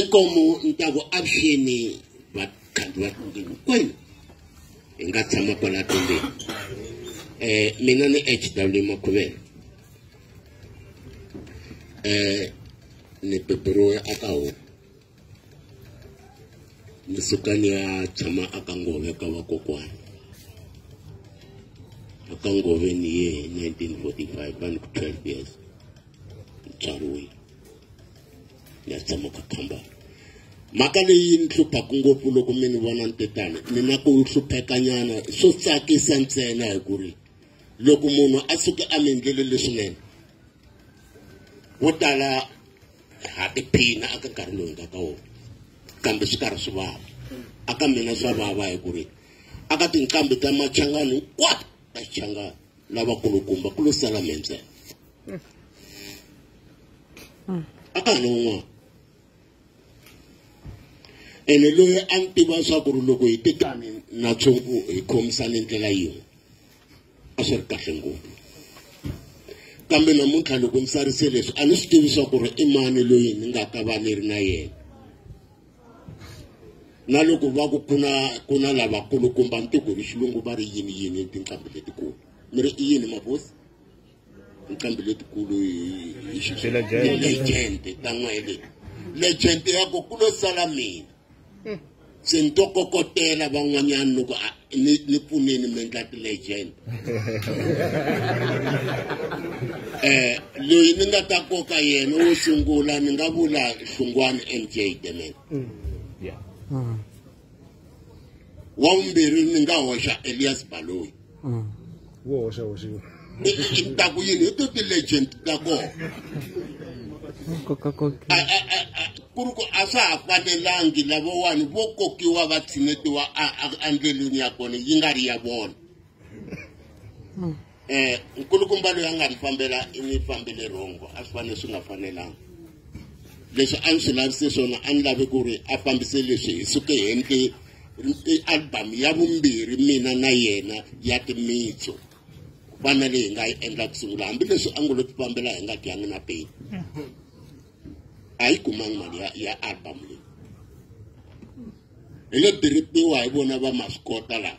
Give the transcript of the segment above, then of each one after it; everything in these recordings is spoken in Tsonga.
ikomu ni ta ku avuxeni vakhandzi va tlonge hinkwenu hi nga tshama kwala tlombeni um eh, mina ni h w makhuvela um ni beburiwe aka homu ni suka ni ya tshama aka ngove ka vakokwana aka ngove ni ye hi 1945 va ni ku 12 years ni tswariwile ni ya tshama ka kambana mhaka leyi ni hluphaku ngopfu loko mi ni vona ni te tani ni na ku hluphekanyana swo tsakisa ntsena hi ku ri loko munhu a suke a mi endlele leswinene vo tala ha tiphina aka nkarhi lowu hi nga ka wona kambe swi karhi swi vava aka mina swa vava hi ku ri aka tinqambi ta machangani hinkwato ta xichangani lavakulukumba ku lo sala mi ntsena akan'we ene loyi a ni tiva swa ku ri loko hi tekani na tshungu hi khomisane ndlela yin'we a swi ri kahle ngopfu kambe namuntlha loko ni sarise leswi a ni swi tivi swa ku ri i mani loyi ni nga ta va ni ri na yena na loko va ku kuna ku na lavakulukumba ni tiku hi xilungu va ri yini yini tinqambi letikulu mi ri i yini mabosi nqambi letikulu hi xilejente ta n'wele lejente ya ku ku lo sala mina hmm. se ni to kokotela van'wanyana loko ni ni pfuneni mi endla ti-legend eh loyi ni nga ta koka yena wo sungula ni nga vula hlungwani mj demela hmm. hmm. wa vumbirhi ni nga hoxa elias baloyi mm. wo hoxa hoxiwa ni ta ku yini hi to ti-legend ta kona ku ri ku a swa ha fanelangi lavowani vo kokiwa va tshinetiwa endleleni ya kona yi nga ri ya vona um nkulukumba loyi a nga mi fambela i mi fambele rhongo a swi fanele swi nga fanelanga leswi a ni swi lavise swona a ni lavi ku ri a fambise leswi hi suke hente album ya vumbirhi mina na yena ya timitso ku fana leyi hi nga yi endla ku sungula hambileswi a ngo lo ti fambela hi nga dyangi na peni a yi kumangi mali ya ya album leyi hi lo tirhipiwa hi vona va maswi kota laha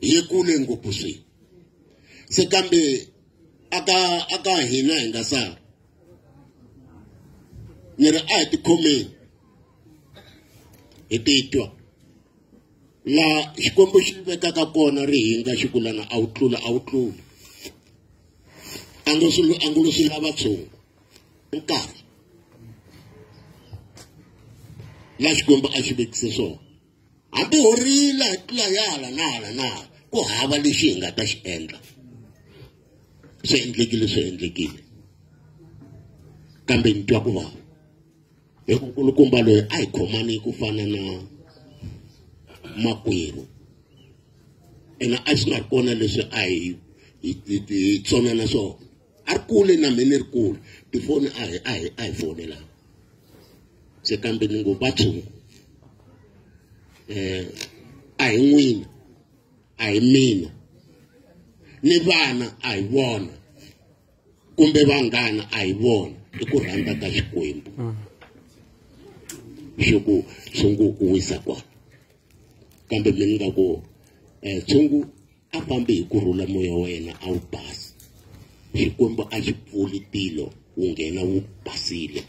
hi kule ngopfu swi se kambe aka aka hina hi nga sala ni ri a hi tikhomeni hi titwa laha xikwembu xi vekaka kona ri hinga xi kulana a wu tlula a wu tluli a ngo swi a ngo swi lava tshungu nkarhi la xikwembu a xi vekise swona ha borhile ha tlula ya hala na hala na hala ku hava lexi hi nga ta xi endla swi endlekile swi endlekile kambe ni twa ku vava hi ku nkulukumba loyi a hi khomani ku fana na makwerhu ene a swi nga ri kona leswi a hi hi tsonana swona a ri kule na mina ni ri kule tifoni a hi a hi a hi fonelana se kambe ni ngo va tshungu um a hi n'wina a hi mina ni vana a hi vona kumbe vanghana a hi vona i ku rhandza ka xikwembu mm. swi ku tshungu u wisa kona kambe mi nga ku um tshungu a fambi hi ku rhula moya wa yena a wu basi xikwembu a xi pfuli tilo wu nghena wu basile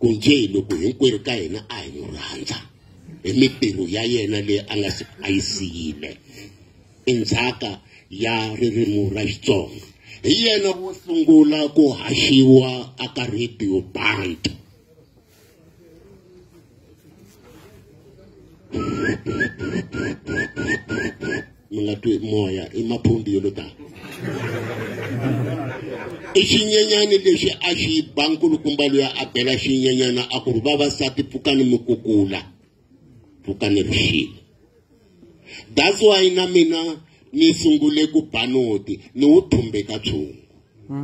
ku nje hi loko hinkwerhu ka hina a hi n'wi rhandza hi mitirho ya yena leyi a nga a yi siyile i ndzhaka ya ririmi ra xitsonga hi yena wo sungula ku haxiwa aka radio band mlatwe moya i maphundi yo lo tala i xinyenyani lexi a xi ba nkulukumba loyi a bela xinyenyana a ku ri vavasati pfukani mi kukula ku ka ni ri that's why na mina ni sungule ku ba noti ni wu thumbeka tshungu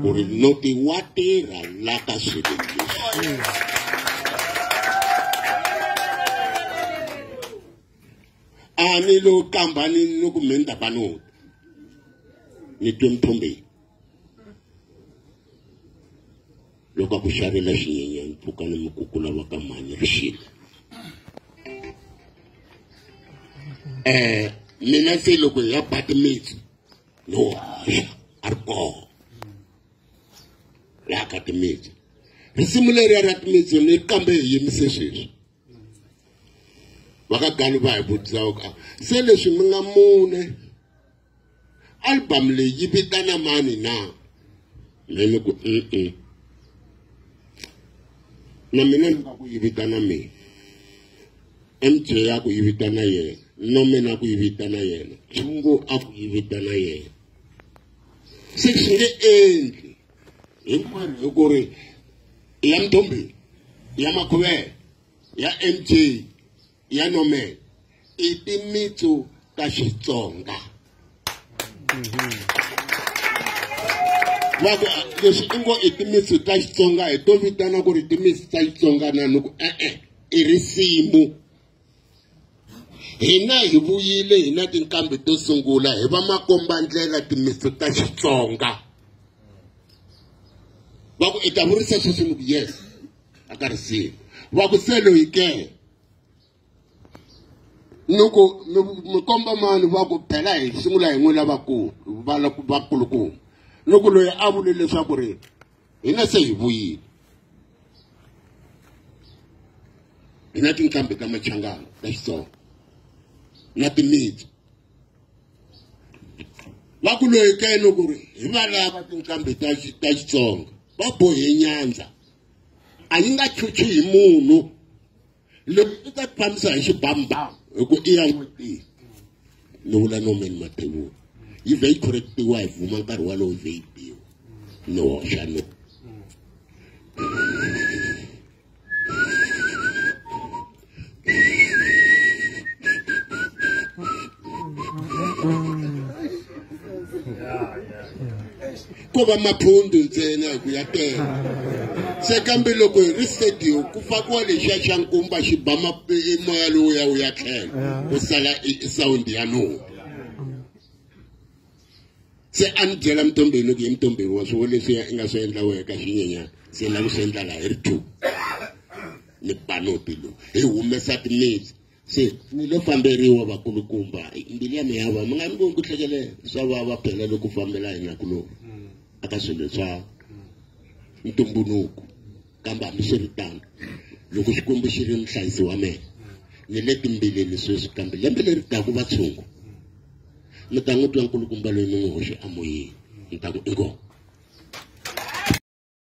ku ri noti wa tirha la ka swilo leswi a ni lo kamba ni ni ku mhenda ba noti ni twe mthumbeni loko ku xavela xinyenyani pfuka ni mikukula va ka mhani ri xile um mina se loko hi ya bati mitsi no haxa a ri koho laha ka timitsi risimu leriya ra timitsi ni kambe hi yimise sweswi vakagani va hi vutisa ku se leswi mi nga mune album leyi yi vitana mani na me ni ku e-e na mina ni nga ku yi vitana mina mj ya ku yi vitana yena no mina ku yi vitana yena chungu a ku yi vitana yena se swi nge endli hinkwenu hi ku ri ya mdombeni ya makhuvela ya mj ya nomel i timitsu ta xitsonga va ku leswi i ngo i timitsu ta xitsonga hi to vitana ku ri timitsu ta xitsonga na ni ku e-e i risimu hina hi vuyile hi na tinkambi to sungula hi va makombandlela timitsu ta xitsonga va ku i ta vurisa sweswi ni ku yes a ka ri siyi va ku se loyi ke ni ku mi komba mani va ku phela hi sungula hi n'wi lavakulu vakulukumba ni ku loyi a vule leswaku ri hina se hi vuyile hi na tinqambi ta machangana ta xitsonga na timitsu va ku loyi ke ni ku ri hi va lava tinqambi ta xitsonga va bohe nyandza a yi nga chuchi hi munhu loko i ta fambisa hi xibambhamu hi ku i ya n'wetini ni vula nomeni mathevula yi vhe yi correctiwa hi vuma nkarhi walowo vhe yi biwa ni hoxa no ko va maphundu ntsena hi ku ya tela se kambe loko hi ri stadium ku fakiwa lexiya xa nkumba xi ba moya lowu ya wu ya tlhela ku sala e, e sound ya noho se a ni byela mutombeni ku ye mutombeni wa swivo leswiya i nga swi endla wehe ka xinyenyana se ni lava ku swi endla laha hi ri two ni panopi lowu hi humesa timitsi se ni lo famberiwa vakulukumba mbilu ya miyava mi nga ni voni ku hlekele swa vava phela loko fambela hina ku lowu a ka swilo swa ntumbuluko kambe hambi swi ri tano loko xikwembu xi ri muhlayisi wa mina ni le timbileni sweswi kambe lembe leri taku vatshungu mi ta n'wi twa nkulukumba loyi mi n'wi hoxe emoyeni mi ta ku inkomu